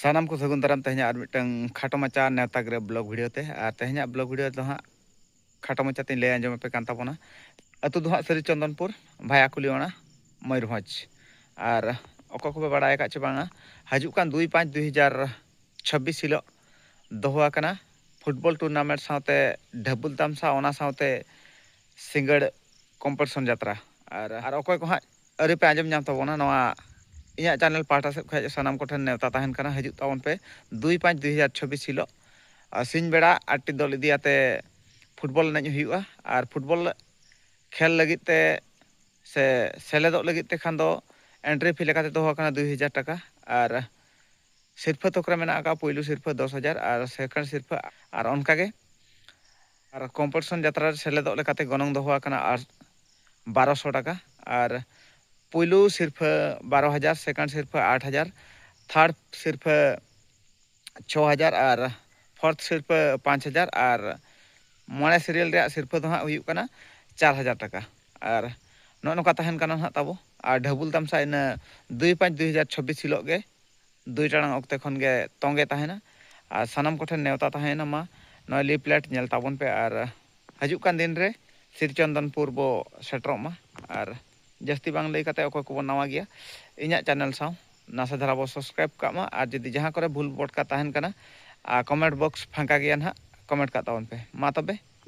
ᱥᱟᱱᱟᱢ ᱠᱚ ᱥᱟᱹᱜᱩᱱ ᱫᱟᱨᱟᱢ ᱛᱮᱦᱮᱧᱟᱜ ᱟᱨ ᱢᱤᱫᱴᱟᱝ ᱠᱷᱟᱴᱚ ᱢᱟᱪᱟ ᱱᱮᱣᱛᱟ ᱜᱤᱨᱟᱹ ᱵᱞᱚᱜ ᱵᱷᱤᱰᱤᱭᱳ ᱛᱮ ᱟᱨ ᱛᱮᱦᱮᱧᱟᱜ ᱵᱞᱚᱜ ᱵᱷᱤᱰᱤᱭᱳ ᱫᱚ ᱦᱟᱸᱜ ᱠᱷᱟᱴᱚ ᱢᱟᱪᱟ ᱛᱮᱧ ᱞᱟᱹᱭ ᱟᱸᱡᱚᱢ ᱟᱯᱮ ᱠᱟᱱ ᱛᱟᱵᱚᱱᱟ ᱟᱹᱛᱩ ᱫᱚ ᱦᱟᱸᱜ ᱥᱟᱹᱨᱤ ᱪᱚᱱᱫᱚᱱᱯᱩᱨ ᱵᱷᱟᱭᱟ ᱠᱩᱞᱤᱣᱟᱲᱟ ᱢᱚᱭᱩᱨᱵᱷᱚᱸᱡᱽ ᱟᱨ ᱚᱠᱚᱭ ᱠᱚᱯᱮ ᱵᱟᱲᱟᱭ ᱟᱠᱟᱫ ᱪᱮ ᱵᱟᱝᱟ ᱦᱤᱡᱩᱜ ᱠᱟᱱ ᱫᱩᱭ ᱯᱟᱸᱪ ᱫᱩᱭ ᱦᱟᱡᱟᱨ ᱪᱷᱟᱵᱵᱤᱥ ᱦᱤᱞᱳᱜ ᱫᱚᱦᱚ ᱟᱠᱟᱱᱟ ᱯᱷᱩᱴᱵᱚᱞ ᱴᱩᱨᱱᱟᱢᱮᱱᱴ ᱥᱟᱶᱛᱮ ᱰᱷᱟᱹᱵᱩᱞ ᱛᱟᱢᱥᱟ ᱚᱱᱟ ᱥᱟᱶᱛᱮ ᱥᱤᱸᱜᱟᱹᱲ ᱠᱚᱢᱯᱤᱴᱤᱥᱚᱱ ᱡᱟᱛᱨᱟ ᱟᱨ ᱟᱨ ᱚᱠᱚᱭ ᱠᱚ ᱦᱟᱸᱜ ᱟᱹᱣᱨᱤ ᱯᱮ ᱟᱸᱡᱚᱢ ᱧᱟᱢ ᱛᱟᱵᱚᱱᱟ ᱱᱚᱣᱟ ᱤᱧᱟᱹᱜ ᱪᱟᱱᱮᱞ ᱯᱟᱦᱴᱟ ᱥᱮᱫ ᱠᱷᱚᱱ ᱥᱟᱱᱟᱢ ᱠᱚᱴᱷᱮᱱ ᱱᱮᱣᱛᱟ ᱛᱟᱦᱮᱱ ᱠᱟᱱᱟ ᱦᱤᱡᱩᱜ ᱛᱟᱵᱚᱱ ᱯᱮ ᱫᱩᱭ ᱯᱟᱸᱪ ᱫᱩᱭ ᱦᱟᱡᱟᱨ ᱪᱷᱚᱵᱵᱤᱥ ᱦᱤᱞᱳᱜ ᱥᱤᱧ ᱵᱮᱲᱟ ᱟᱴᱴᱤ ᱫᱚᱞ ᱤᱫᱤ ᱠᱟᱛᱮ ᱯᱷᱩᱴᱵᱚᱞ ᱮᱱᱮᱡ ᱦᱩᱭᱩᱜᱼᱟ ᱟᱨ ᱯᱷᱩᱴᱵᱚᱞ ᱠᱷᱮᱞ ᱞᱟᱹᱜᱤᱫ ᱛᱮ ᱥᱮ ᱥᱮᱞᱮᱫᱚᱜ ᱞᱟᱹᱜᱤᱫ ᱛᱮ ᱠᱷᱟᱱ ᱫᱚ ᱮᱱᱴᱨᱤ ᱯᱷᱤ ᱞᱮᱠᱟᱛᱮ ᱫᱚᱦᱚ ᱟᱠᱟᱱᱟ ᱫᱩᱭ ᱦᱟᱡᱟᱨ ᱴᱟᱠᱟ ᱟᱨ ᱥᱤᱨᱯᱷᱟᱹ ᱛᱷᱚᱠ ᱨᱮ ᱢᱮᱱᱟᱜ ᱟᱠᱟᱫᱼᱟ ᱯᱩᱭᱞᱩ ᱥᱤᱨᱯᱷᱟᱹ ᱫᱚᱥ ᱦᱟᱡᱟᱨ ᱟᱨ ᱥᱮᱠᱮᱱᱰ ᱥᱤᱨᱯᱷᱟᱹ ᱟᱨ ᱚᱱᱠᱟᱜᱮ ᱟᱨ ᱠᱚᱢᱯᱚᱴᱤᱥᱚᱱ ᱡᱟᱛᱨᱟ ᱨᱮ ᱥᱮᱞᱮᱫᱚᱜ ᱞᱮᱠᱟᱛᱮ ᱜᱚᱱᱚᱝ ᱫᱚᱦᱚ ᱟᱠᱟᱱᱟ ᱟᱨ ᱵᱟᱨᱚ ᱥᱚ ᱴᱟᱠᱟ ᱟᱨ ᱯᱩᱭᱞᱩ ᱥᱤᱨᱯᱷᱟᱹ ᱵᱟᱨᱚ ᱦᱟᱡᱟᱨ ᱥᱮᱠᱮᱱᱰ ᱥᱤᱨᱯᱷᱟᱹ ᱟᱴ ᱦᱟᱡᱟᱨ ᱛᱷᱟᱨᱰ ᱥᱤᱨᱯᱷᱟᱹ ᱪᱷᱚ ᱦᱟᱡᱟᱨ ᱟᱨ ᱯᱷᱚᱨᱛᱷ ᱥᱤᱨᱯᱷᱟᱹ ᱯᱟᱸᱪ ᱦᱟᱡᱟᱨ ᱟᱨ ᱢᱚᱬᱮ ᱥᱤᱨᱤᱭᱟᱞ ᱨᱮᱭᱟᱜ ᱥᱤᱨᱯᱷᱟᱹ ᱫᱚ ᱦᱟᱸᱜ ᱦᱩᱭᱩᱜ ᱠᱟᱱᱟ ᱪᱟᱨ ᱦᱟᱡᱟᱨ ᱴᱟᱠᱟ ᱟᱨ ᱱᱚᱜᱼᱚ ᱱᱚᱝᱠᱟ ᱛᱟᱦᱮᱱ ᱠᱟᱱᱟ ᱦᱟᱸᱜ ᱛᱟᱵᱚ ᱟᱨ ᱰᱷᱟᱹᱵᱩᱞ ᱛᱟᱢᱥᱟ ᱤᱱᱟᱹ ᱫᱩᱭ ᱯᱟᱸᱪ ᱫᱩᱭ ᱦᱟᱡᱟᱨ ᱪᱷᱚᱵᱵᱤᱥ ᱦᱤᱞᱳᱜ ᱜᱮ ᱫᱩᱭ ᱴᱟᱲᱟᱝ ᱚᱠᱛᱮ ᱠᱷᱚᱱ ᱜᱮ ᱛᱚᱸᱜᱮ ᱛᱟᱦᱮᱱᱟ ᱟᱨ ᱥᱟᱱᱟᱢ ᱠᱚᱴᱷᱮᱱ ᱱᱮᱣᱛᱟ ᱛᱟᱦᱮᱭᱮᱱᱟ ᱢᱟ ᱱᱚᱜᱼᱚᱭ ᱞᱤᱯᱷᱞᱮᱴ ᱧᱮᱞ ᱛᱟᱵᱚᱱ ᱯᱮ ᱟᱨ ᱦᱟᱹᱡᱩᱜ ᱠᱟᱱ ᱫᱤᱱ ᱨᱮ ᱥᱤᱨᱪᱚᱱᱫᱚᱱᱯᱩᱨ ᱵᱚ ᱥᱮᱴᱮᱨᱚᱜ ᱢᱟ ᱟᱨ ᱡᱟᱹᱥᱛᱤ ᱵᱟᱝ ᱞᱟᱹᱭ ᱠᱟᱛᱮ ᱚᱠᱚᱭ ᱠᱚᱵᱚᱱ ᱱᱟᱣᱟ ᱜᱮᱭᱟ ᱤᱧᱟᱹᱜ ᱪᱟᱱᱮᱞ ᱥᱟᱶ ᱱᱟᱥᱮ ᱫᱷᱟᱨᱟ ᱵᱚ ᱥᱚᱵᱥᱠᱨᱟᱭᱤᱵᱽ ᱠᱟᱜ ᱢᱟ ᱟᱨ ᱡᱩᱫᱤ ᱡᱟᱦᱟᱸ ᱠᱚᱨᱮ ᱵᱷᱩᱞ ᱵᱚᱴᱠᱟ ᱛᱟᱦᱮᱱ ᱠᱟᱱᱟ ᱟᱨ ᱠᱚᱢᱮᱱᱴ ᱵᱚᱠᱥ ᱯᱷᱟᱸᱠᱟ ᱜᱮᱭᱟ ᱱᱟᱦᱟᱜ ᱠᱚᱢᱮᱱᱴ ᱠᱟᱜ ᱛᱟᱵᱚᱱ ᱯᱮ ᱢᱟ ᱛᱚᱵᱮ